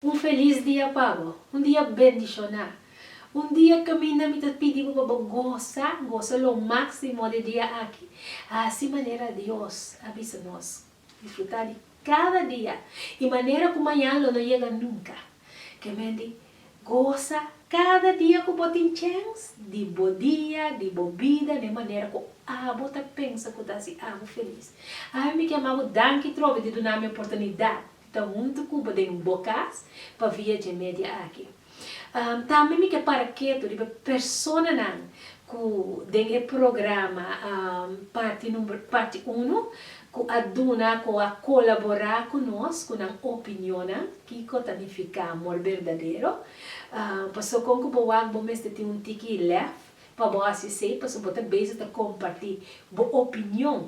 Un felis dia pa bo. Un dia bendishoná. Un dia kaminda mi ta pidi bo pa bo gosa, gosa lo máksimo di dia aki. Hasi manera Dios a bisa nos. Disfrutá di kada dia i manera ku mañan lo no yega nunka. Kemente gosa kada dia ku bo tin chèns di bo dia, di bo bida den manera ku abo ta pensa ku ta hasi abo felis. Awe mi ke m'a bo danki trobe di dunami oportunidat. ta huntu cu bo den bo cas pa via dje media aki. Tambe mi ke para ketu riba personanan cu den e programa parti number parti uno cu a duna cu a colabora cu nos cu nan opinionnan kico ta nifica amor berdadero. Pasobra con cu bo wak bo mester tin un tiki lef. Pa bo hasi esei pasobra bo ta beza ta kompartí bo opinion,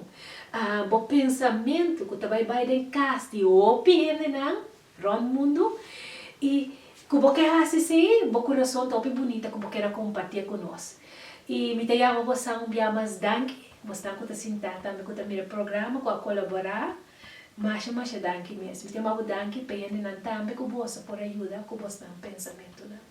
bo pensamentu ku ta bai bai den kas di hopi hendenan rònt mundu. I ku bo ke hasi esei, bo kurason ta hopi bunita ku bo ker a kompartié ku nos. I mi ta yama bo sa un bia mas danki, bosnan ku ta sintá tambe ku ta mira e programa, ku a kolaborá. Masha masha danki mes. Mi ta yama bo danki p'e hendenan tambe ku boso por a yuda ku bosnan pensamentunan.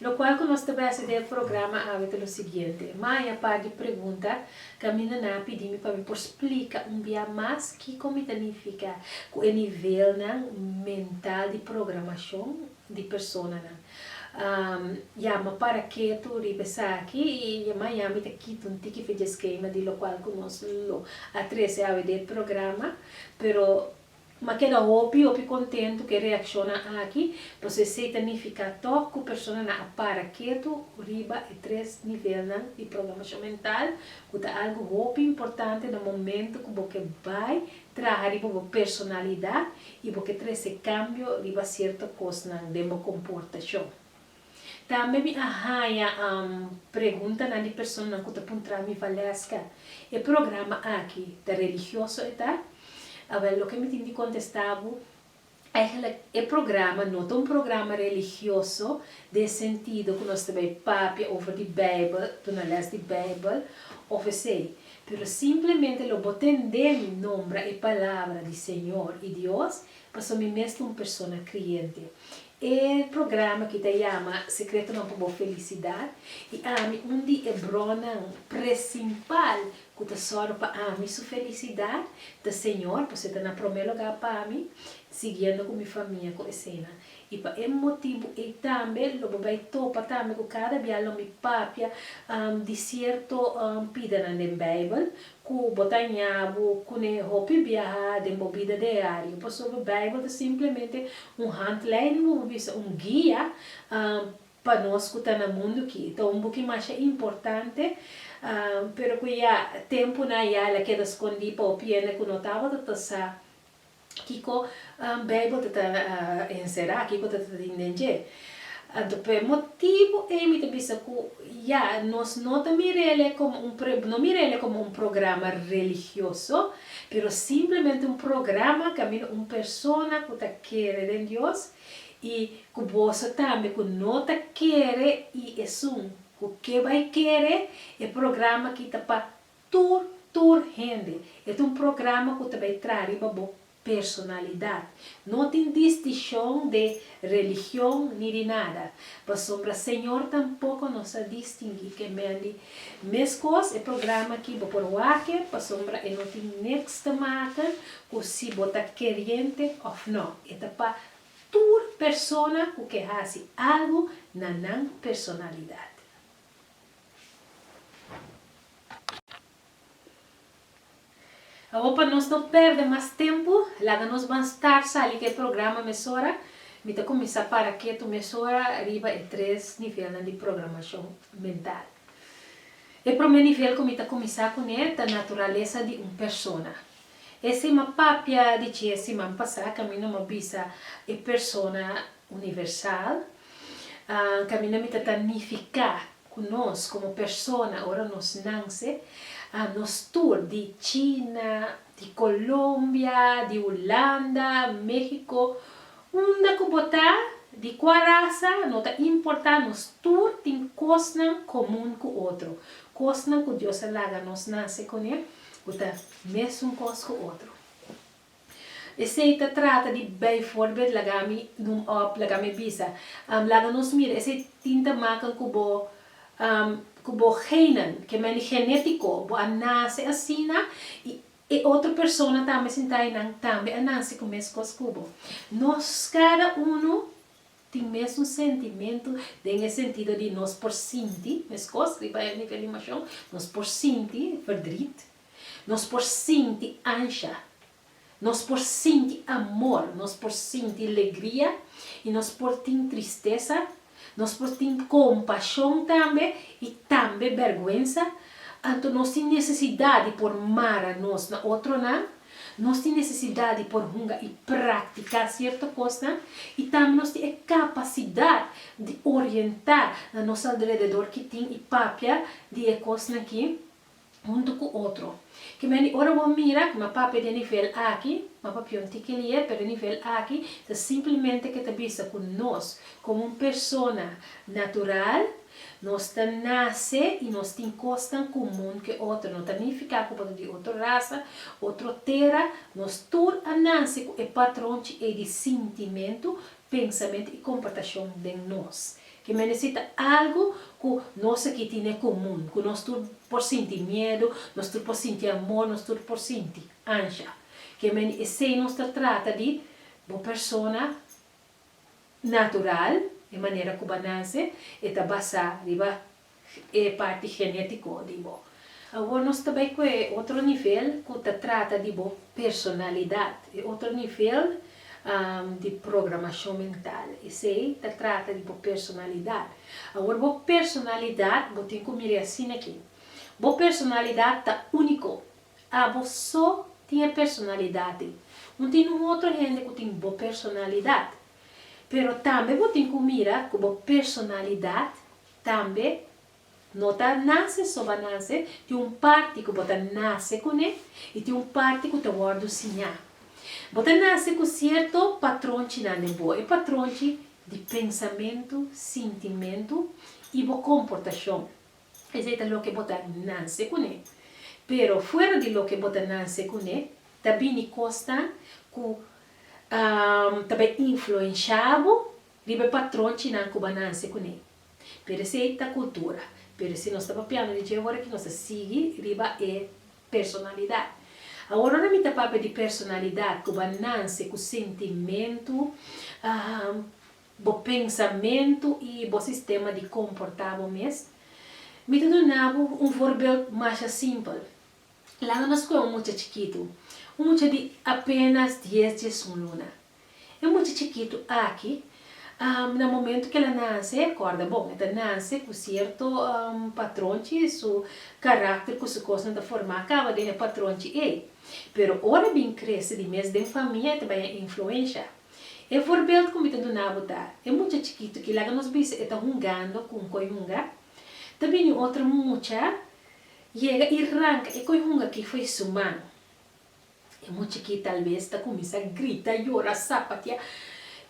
Lokual ku nos ta bese den e programa awe ta lo siguiente, Maya par di pregunta kaminda nan a pidi mi pa mi por splika un bia mas kiko mi ta nifiká ku e nivelnan mental di programashon di personanan. Ya, m'a para ketu riba esaki i ya maña mi ta kita un tiki fidjeskema di lokual ku nos lo a trese awe den e programa, pero M'a keda hopi hopi kontentu ku e reakshonnan aki, pasobra esei ta nifiká tòg ku personanan a para ketu riba e tres nivelnan di programashon mental, ku ta algu hopi importante na momentu ku bo ke bai traha riba bo personalidat i bo ke trese kambio riba sierto kosnan den bo komportashon. Tambe mi a haña preguntanan di personanan ku ta puntra mi, Valeska, e programa aki ta religioso e ta? Awel, loke mi tin di kontestá bo, Eigenlijk, e programa no ta un programa religioso den sentido ku nos ta bai papia over di Beibel, duna lès di Beibel òf esei. Pero simplemente lo bo tendé mi nombra e palabra di Señor i Dios Paso mi mes ta un persona kriente. E programa aki ta yama Sekretonan pa bo Felisidat, i ami un di e bronnan presimpal ku ta sòru pa ami su felisidat ta Señor, paso e ta na promé lugá pa mi, siguiendo ku mi famia ku esena. I pa e motibu ei tambe lo bo bai topa tambe ku kada bia lo mi papia di sierto pidenan den Beibel Ku bo ta ña bo kune hopi biaha den bo bida diario. Pasobra Beibel ta simplemente un handleiding, bo por bisa un guia, pa nos ku ta na mundu ki. Ta un buki masha importante, pero ku ya tempunan ya el a keda skondí pa hopi hende ku no tabata ta sa. Kiko Beibel ta ta enserá? Kiko ta ta tin den dje? Anto p'e motibu ei mi ta bisa ku ya, nos no ta mir'e komo un pre, no mir'e komo un programa religioso, pero simplemente un programa kaminda un persona ku ta kere den Dios i ku boso tambe ku no ta kere i esun ku ke bai kere, e programa ki ta pa Tur, tur hende. E ta un programa ku ta bai traha riba bo personalidad. No tin distishon de religion ni di nada. Pasobra Señor tampoko no sa distingui ke mendi. Meskos e programa aki bo por wake pasobra e no tin niks ta maka ku si bo ta keriente of no. E ta pa tur persona ku ke hasi algu na nan personalidad. Awor pa nos no perde mas tempu, laga nos ban start sali ku e programa mesora. Mi ta kuminsá para ketu mesora riba e tres nivelnan di programashon mental. E promé nivel ku mi ta kuminsá kuné ta naturalesa di un persona. E sima papia di dje siman pasá kaminda mi a bisa e persona Universal, Caminda mi ta ta nifica cu nos como persona ora nos nance, nos tur di China, di Colombia, di Hulanda, Mexico, unda cu bo ta, di cua raza, no ta importa nos tur tin cosnan comun cu otro, cosnan cu Dios a laga nos nance cune cu ta mesun cos cu otro. Esei ta trata di bijvoorbeeld laga mi noem op laga mi bisa um laga nos mira esei tin ta makan ku bo um ku bo genen ke meni genetico bo a nace asina y e otro persona tambe sinta einan tambe a nace ku meskos ku bo. Nos cada uno tin mes un sentimento den e sentido di nos por sinti meskos riba e nivel di emocion nos por sinti verdriet Nos por sinti ansha, nos por sinti amor, nos por sinti legria i nos por tin tristesa, nos por tin kompashon tambe i tambe bèrgwensa. Anto nos tin nesesidat di por mara nos na otronan, nos tin nesesidat di por hunga i praktiká sierto kosnan i tambe nos tin e kapasidat di orientá na nos alrededor ki tin i papia di e kosnan ki huntu ku otro. Kimen di ora bo mira kuma papia den nivel aki, ma papia un tiki lier, pero den nivel aki ta simplemente ke ta bisa ku nos, komo un persona natural, nos ta nase i nos tin kosnan kumun ke otro. No ta nifiká ku bo ta di otro rasa, otro tera, nos tur a nase ku e patronchi ei di sintimentu, pensamentu i komportashon den nos. Ki mendesí ta algu ku nos aki tin e komun, ku nos tur por sinti miedu, nos tur por sinti amor, nos tur por sinti. Ansha, ki mende esei nos ta trata di bo persona natural, e manera ku ba nase, e ta basá riba e parti genetico di bo. Awor nos ta bay cu e otro nivel cu ta trata di bo personalidad, e otro nivel di programacion mental. Esey ta trata di bo personalidad. Awor bo personalidad bo tin cu mire asina aki. Bo personalidad ta unico. Abo so tin e personalidad ei. Un tin un otro hende cu tin bo personalidad. Pero tambe bo tin cu mira cu bo personalidad Tambe, no ta nase soba nase, tin un parti ku bo ta nase kuné i tin un parti ku ta wòrdu siñá. Bo ta nase ku sierto patronchinan den bo. E patronchi di pensamentu, sintimentu i bo komportashon. Esei ta loke bo ta nase kuné. Pero fuera di loke bo ta nase kuné, ta bini kosnan ku ta bai influenshá bo Riba e patron chinan ku bananse kuné. Pero esei ta kultura. Pero si nos ta papiando di dje ora ki nos ta sigui riba e personalidat. Awor ora mi ta papia di personalidat ku bananse ku sentimentu, bo pensamentu i bo sistema di komportá bo mes, mi ta duna bo un voorbeeld masha simpel. Laga nos ku'e un mucha chikitu. Un mucha di apenas dies djes un luna. E mucha chikitu aki, na momentu ku el a nanse, kòrda bon, e ta nanse ku sierto patronchi, su karakter ku su kosnan ta formá kaba den e patronchi ei. Pero ora e bin krese di mes den famia e ta baña influensha. E voorbeeld ku mi ta duna bo ta, e mucha chikitu ki, laga nos bisa e ta hungando ku un koi hunga, ta bini otro mucha yega i ranka e koi hunga ki fo'i su man. E muchikí tal bes ta kuminsá grita, yora, sapatia.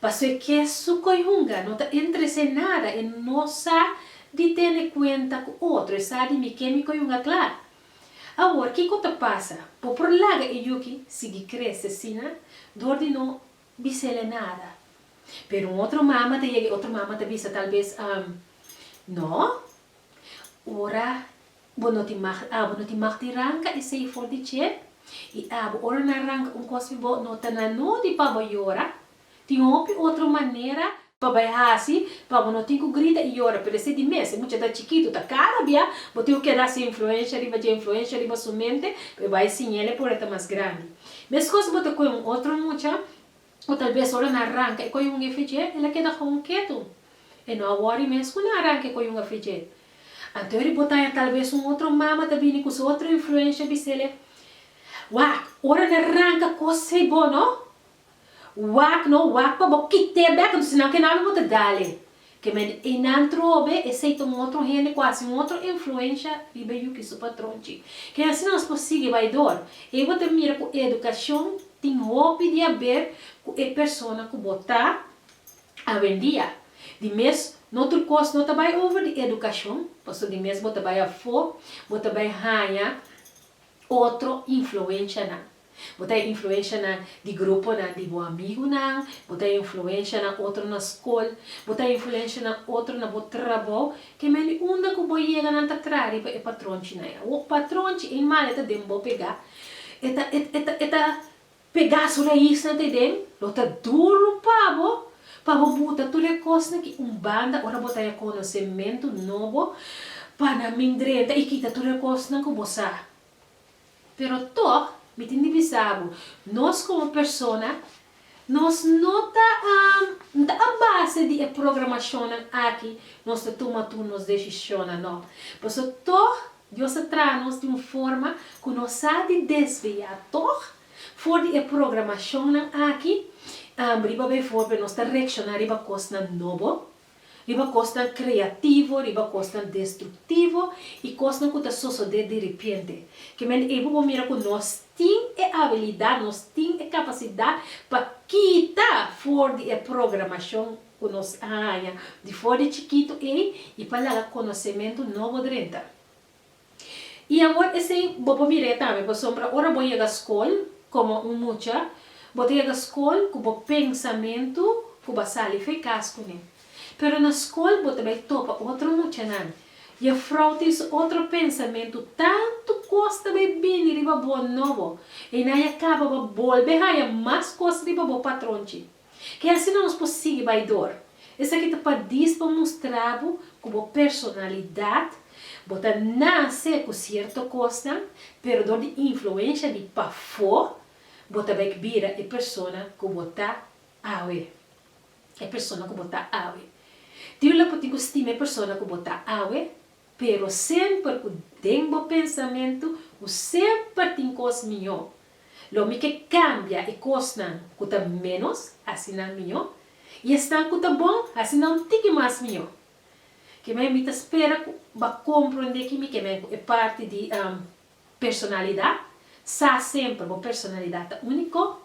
Paso e ke su koi hunga no ta entresé nada, e no sa di tene kuenta ku otro, e sa di mi ke mi koi hunga kla. Awor kiko ta pasa? Bo por laga e yuki sigui krese asina dor di no bisel'e nada. Pero un otro mama ta yega, e otro mama ta bisa tal bes, Am, no. Ora Bo no tin mag, abo no tin mag di ranka esei for di chep, i abo ora nan ranka un kos pi bo no ta na nodi pa bo yora, tin hopi otro manera, pa bai hasi, pa bo no tin ku grita i yora, pero esei di mes, e mucha ta chikitu, ta kada bia bo tin ku keda su influensha riba dje, influensha riba su mente, pa e bai siña el e por e ta mas grandi. Meskos bo ta kohe un otro mucha, O talbes ora nan a ranka e koyun e fridje, el a keda gewoon ketu. E no a wòri mes ku nan a ranka e koyun a fridje. Anto e ribotaña talbes un otro mama ta bini ku su otro influensha bisele, Wak, ora nan a ranka kos ei bo no wak no wak pa bo kit'e bek, anto sinan kenami bo ta dale. Kemende einan trobe esei ta un otro hende ku hasi un otro influensha riba e yuki su patronchi. Ke hasi nos por sigui bai dor? Ei bo ta mira ku e edukashon tin hopi di haber ku e persona ku bo ta awendia. Di mes no tur kos no ta bai over di edukashon, pasobra di mes bo ta bai afó, bo ta bai haña otro influenshanan. Bo ta e influensha na di gruponan di bo amigunan, bo ta e influensha na otro na skol, bo ta e influensha na otro na bo trabou, ke mende unda ku bo yega nan ta traha riba e patronchi nan ya. Wo patronchi ei mal e ta den bo pegá, e ta e ta e ta pegá su raisnan te den, lo ta duru pa bo pa bo buta tur e kosnan ki un banda ora bo ta ya konosé mentu nobo pa nan mindrenta i kita tur e kosnan ku bo sa Pero tog mi tin di bisa bo, nos komo persona, nos no ta n ta a base di e programashonnan aki nos ta tuma tur nos deshishonnan, no. Paso tog Dios a traha nos di un forma ku nos sa di desviá tog for di e programashonnan aki riba befo nos ta reakshoná riba kosnan nobo, riba kosnan kreativo, riba kosnan destruktivo i kosnan ku ta sosodé di ripiente. Ke men ei bo por mira ku nos tin e abilidat, nos tin e kapasidat pa kita for di e programashon ku nos a haña di for di chikitu ei i pa laga konosementu nobo drenta. I awor esei bo por mir'é tambe pasobra ora bo yega skol komo un mucha, bo ta yega skol ku bo pensamentu ku bo a sali fe kas kuné. Pero na skol bo ta bai topa otro muchanan, jefrou tin su otro pensamentu, tantu kos ta bai bini riba bo nobo, einan ya kaba bo a bolbe haña mas kos riba bo patronchi. Ke asina nos por sigui bai dor. Esaki ta pa dis pa mustra bo ku bo personalidat, bo ta nase ku sierto kosnan, pero dor di influensha di pafó bo ta bai bira e persona ku bo ta awe. E persona ku bo ta awe. Tin un lata bo tin ku stima e persona ku bo ta awe, pero semper ku den bo pensamentu bo semper tin kos mihó Lo mi ke kambia e kosnan ku ta ménos, asina mihó, i esnan ku ta bon, asina un tiki mas mihó. Kemei mi ta spera ku b'a komprondé ki mi kemei ku e parti di personalidat, sa semper bo personalidat ta úniko,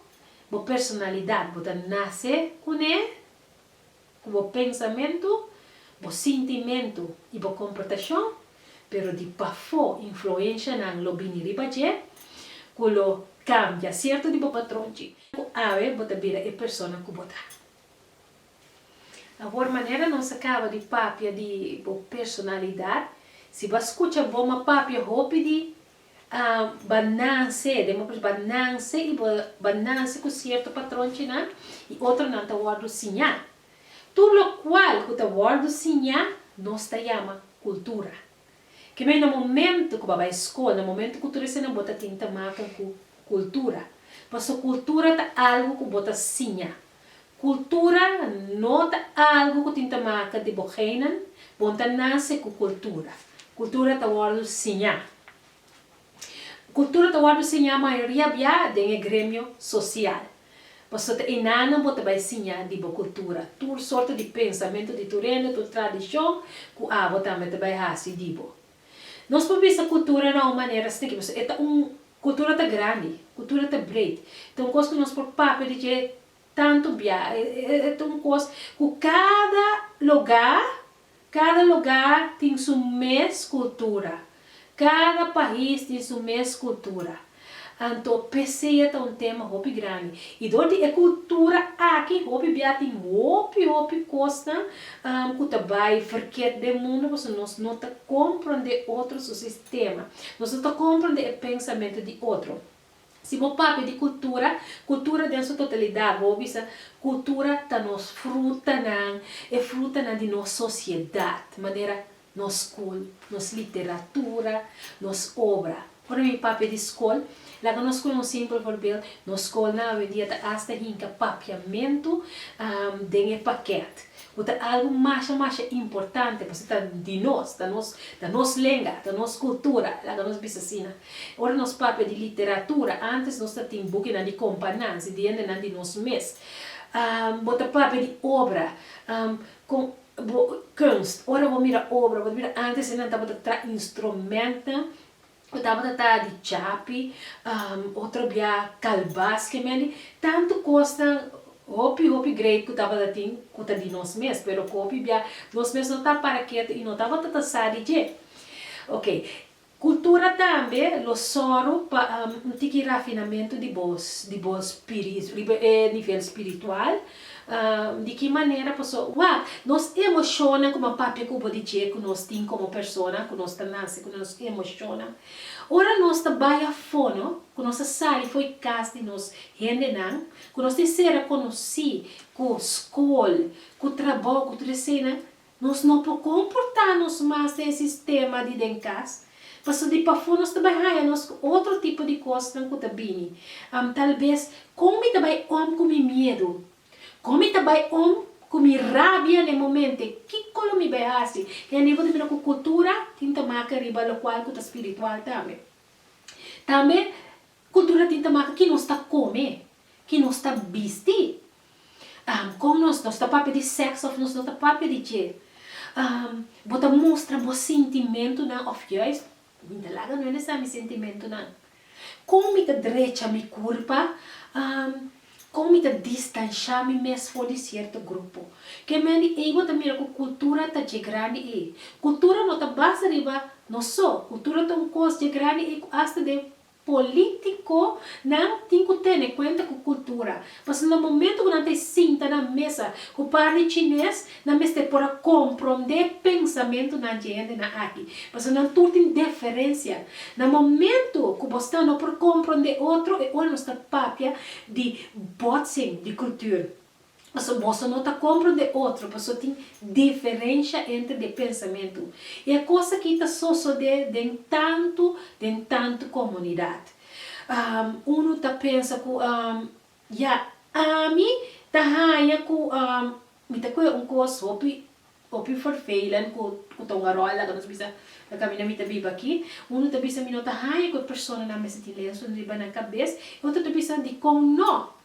bo personalidat bo ta nase kuné. Ku bo pensamentu, bo sintimentu i bo komportashon, pero di pafó influenshanan lo bini riba dje ku lo kambia sierto di bo patronchi ku awe bo ta bira e persona ku bo ta. Awor manera nos a kaba di papia di bo personalidat, si bo a skucha bo m'a papia hopi di Bo nase, den bo pers bo nase i bo bo nase ku sierto patronchinan i otronan ta wòrdu siñá. Tur lokual ku ta wòrdu siñá nos ta yama kultura. Kemey na momentu ku bo a bai skol, na momentu ku tur eseinan bo ta tin ta makan ku kultura. Pasobra kultura ta algu ku bo ta siña. Cultura no ta algo cu tin ta maca di bo genen, bon ta nace cu cultura. Cultura ta wordo siña. Cultura ta wordo siña mayoria bia den e gremio social. Pasobra ta enanan bo ta bay siña di bo cultura, tur sorto di pensamento di tur hende, tur tradicion cu abo tambe ta bay haci di bo. Nos por bisa cultura na un manera stricto, pasobra e ta un. Kultura ta grandi, kultura ta breed, ta un kos ku nos por papia di dje tantu bia, e ta un kos ku kada lugá, kada lugá tin su mes kultura, kada pais tin su mes kultura, anto p'esei e ta un tema hopi grandi, i dor di e kultura aki hopi bia tin hopi hopi kosnan ku ta bai verked den mundu pasobra nos no ta komprondé otro su Tema, Nos no ta komprende e pensamentu di otro. Si bo papia di kultura, kultura den su totalidat, bo a hopi sa, Kultura ta nos frutanan, e frutanan di nos sosiedat, manera nos skol, nos literatura, nos obra. Ora mi papia di skol, laga nos pone un simpel forbeel, nos skolnan awendia ta asta hinka papiamentu den e pakèt. Cu ta algo masha masha importante pasobra ta di nos, ta nos, ta nos lenga, ta nos cultura, laga nos bisa asina. Ora nos papia di literatura, antes nos ta tin bukinan di companan, si di hendenan di nos mes. Bo ta papia di obra, con bo, kunst, ora bo mira obra, bo ta mira antes e nan tabata tra instrumentnan ku tabata ta di chapi, otro bia kalbas ke mende, tantu kosnan, hopi hopi greip ku tabata tin ku ta di nos mes, pero ku hopi bia nos mes no ta para ketu i no tabata ta sa di dje. Ok, kultura tambe lo sòru pa un tiki rafinamentu di bo di bo spiri riba e nivel spiritual, Di ki manera paso? Wak, nos emoshonnan ku m'a papia ku bo di dje ku nos tin komo persona, ku nos ta nase ku nos emoshonnan. Ora nos ta bai afó, no? Ku nos ta sali fo'i kas di nos hendenan, ku nos tin sera konosí ku skol, ku trabou, ku tur eseinan, Nos no por comporta nos mas den sistema di den cas, paso di pafo nos ta bai haya nos cu otro tipo di cosnan cu ta bini. Am tal bes, con mi ta bai om cu mi miedo? Con mi ta bai om cu mi rabia n'e momente? Kico lo mi bai haci? I a nivel di mira cu cultura tin ta maca riba locual cu ta spiritual tambe. Tambe Kultura tin ta maka ki nos ta kome, ki nos ta bisti, kon nos nos ta papia di sèks òf nos no ta papia di dje, bo ta mustra bo sintimentunan òf jùis mi ta laga nuende sa mi sintimentunan, kon mi ta drecha mi kurpa, kon mi ta distanshá mi mes for di sierto grupo. Ke mende ei bo ta mira ku kultura ta dje grandi ei. Kultura no ta basa riba nos so, kultura ta un kos dje grandi ei ku asta den Politiconan tin cu tene cuenta cu cultura, pasobra na momento cu nan ta e sinta na mesa cu par di chines, nan mester por a compronde pensamentonan dje hendenan aki, pasobra nan tur tin deferencia. Na momento cu bo sta no por compronde otro, e ora nos ta papia di botsing di cultuur. Paso boso no ta compro de otro paso tin diferencia entre de pensamentu. Y e cos aki ta sosode den tantu den tantu comunidad. Uno ta pensa cu ya ami ta haya cu mi ta coge un cos hopi hopi vervelend cu cu ta un arol laga nos bisa na caminda mi ta biba aki. Uno ta bisa mi no ta haya cu e personanan mester tin lensonan riba nan cabes y otro ta bisa dicon no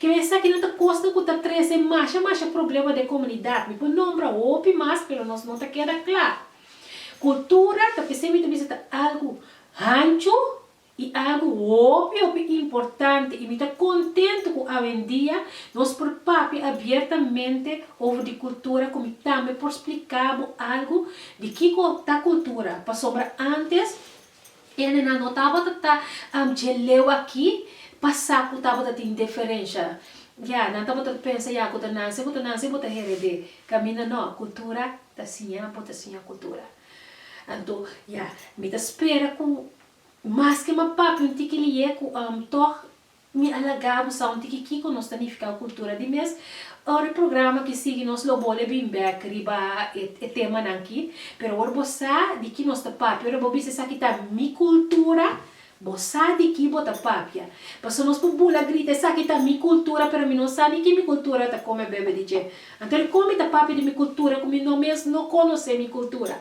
Kere esaki nan ta kosnan ku ta trese masha masha problema den komunidat. Mi por nombra hopi mas pero nos no ta keda kla. Kultura ta p'esei mi ta bisa ta algu hanchu i algu hopi hopi importante i mi ta kontentu ku awendia nos por papia abiertamente over di kultura ku mi tambe por splika bo algu di kiko ta kultura pasobra antes Ene nan no tabata ta dje leu aki pa sa ku tabata tin deferensha. Ya, nan tabata pensa, ya, ku ta nan si, ku ta nan si, bo ta hered'é. Kaminda nò, kultura ta siña, bo ta siña kultura. Anto, ya, mi ta spera ku maske ma papi un tiki li'é ku tòg Mi a laga bo sa un tiki kiko nos ta nifiká kultura di mes. Ora e programa ki sigui nos lo bole bin bèk riba e temanan ki. Pero ora bo sa di ki nos ta papia, ora bo bisa esaki ta mi kultura, bo sa di ki bo ta papia. Pasobra nos por bula grita esaki ta mi kultura pero mi no sa ni ki mi kultura ta kome bebe di dje. Anto di kon mi ta papia di mi kultura ku mi no mes no konosé mi kultura?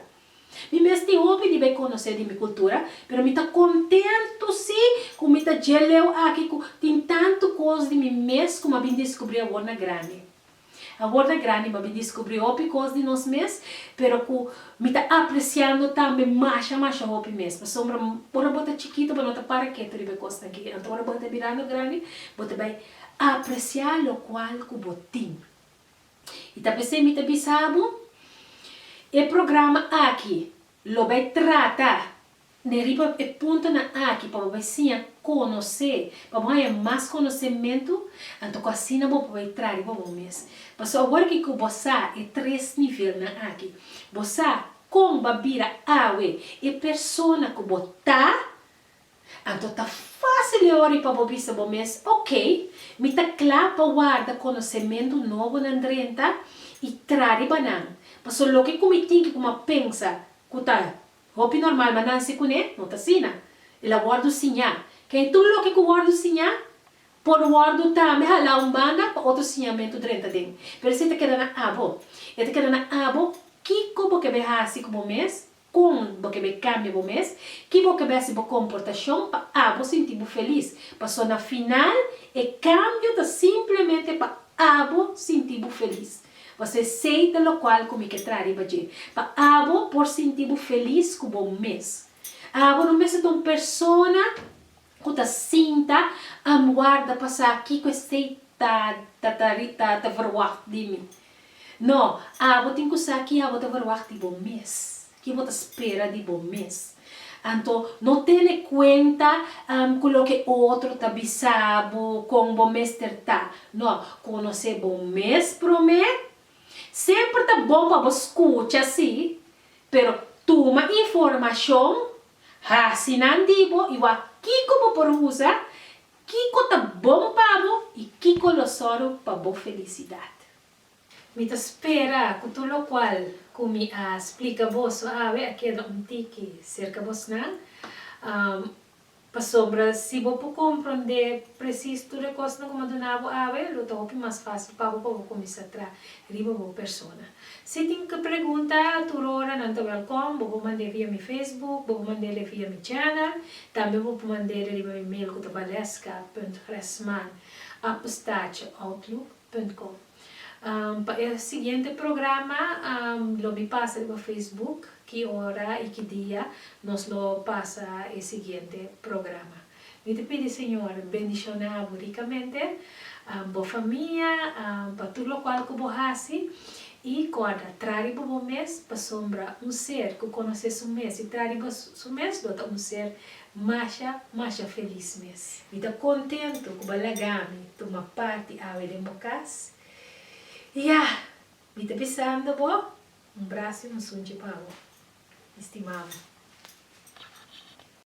Mi mes tin hopi di bay conoce di mi cultura, pero mi ta contento si cu mi ta dje leu aki cu tin tanto cos di mi mes cu m'a bin descubri awor na grandi. Awor na grandi m'a bin descubri hopi cos di nos mes, pero cu mi ta apreciando tambe masha masha hopi mes, pasobra ora bo ta chikito bo no ta para keto riba e cosnan aki, anto ora bo ta mirando grandi bo ta bay aprecia locual cu bo tin. I ta p'esei mi ta bisa bo, e programa aki lo bai trata den riba e puntonan aki pa bo bai siña konosé, pa bo haña mas konosementu, anto ku asina bo por bai traha riba bo mes. Pasobra awor ki ku bo sa e tres nivelnan aki, bo sa kon bo a bira awe e persona ku bo ta. Anto ta fásil e ora i pa bo bisa bo mes, Oke, mi ta kla pa warda konosementu nobonan drenta i tra riba nan. Paso loke ku mi tin ki kuma pensa ku ta hopi normal, ma nan si kuné? No ta asina. El a wòrdu siñá. Kei tur loke ku wòrdu siñá por wòrdu tambe halá un banda pa otro siñamentu drenta den. Pero si e ta keda na abo, e ta keda na abo kiko bo ke bai hasi ku bo mes? Kon bo ke bai kambia bo mes? Ki bo ke bai hasi bo komportashon pa abo sinti bo felis? Paso na final e kambio ta simplemente pa abo sinti bo felis. Bo a ser sei ta lokual ku mi ke traha riba dje, pa abo por sinti bo felis ku bo mes. Abo no mester ta un persona ku ta sinta am warda pa sa kiko esei ta ta ta ta ta verwagt di mi. No, abo tin ku sa ki abo ta verwagt di bo mes, ki bo ta spera di bo mes. Anto, no tene kuenta am ku loke otro ta bisa bo kon bo mester ta. No, konosé bo mes promé. Semper ta bon pa bo skucha, si, pero tuma informashon Ha si nan di bo i wak kiko bo por usa, kiko ta bon pa bo i kiko lo sòru pa bo felisidat. Mi ta spera ku tur lokual ku mi a splika bo suawe a keda un tiki serka bosnan, pasobra si bo por komprondé presis tur e kosnan ku mi a duna bo awe, lo ta hopi mas fásil pa bo pa bo kuminsá tra riba bo persona. Si tin ke pregunta, tur ora nan ta welkom. Bo por mand'é via mi Facebook, bo por mand'é via mi channel, tambe bo por mand'é riba mi mail ku ta Valeska punt Gresman apostache outlook punt com. Pa e siguiente programa lo mi pasa riba Facebook ki ora i ki dia nos lo pasa e siguiente programa. Mi ta pidi Señor bendiciona bo ricamente, bo famia, pa tur locual cu bo haci. Y corda, tra riba bo mes, pasobra un ser cu conoce su mes y tra riba su mes lo ta un ser masha, masha feliz mes. Mi ta contento cu bo a lagami tuma parti awe den bo cas. Y ya, mi ta bisando bo, un brazo y un sunchi pa bo, mi stima bo.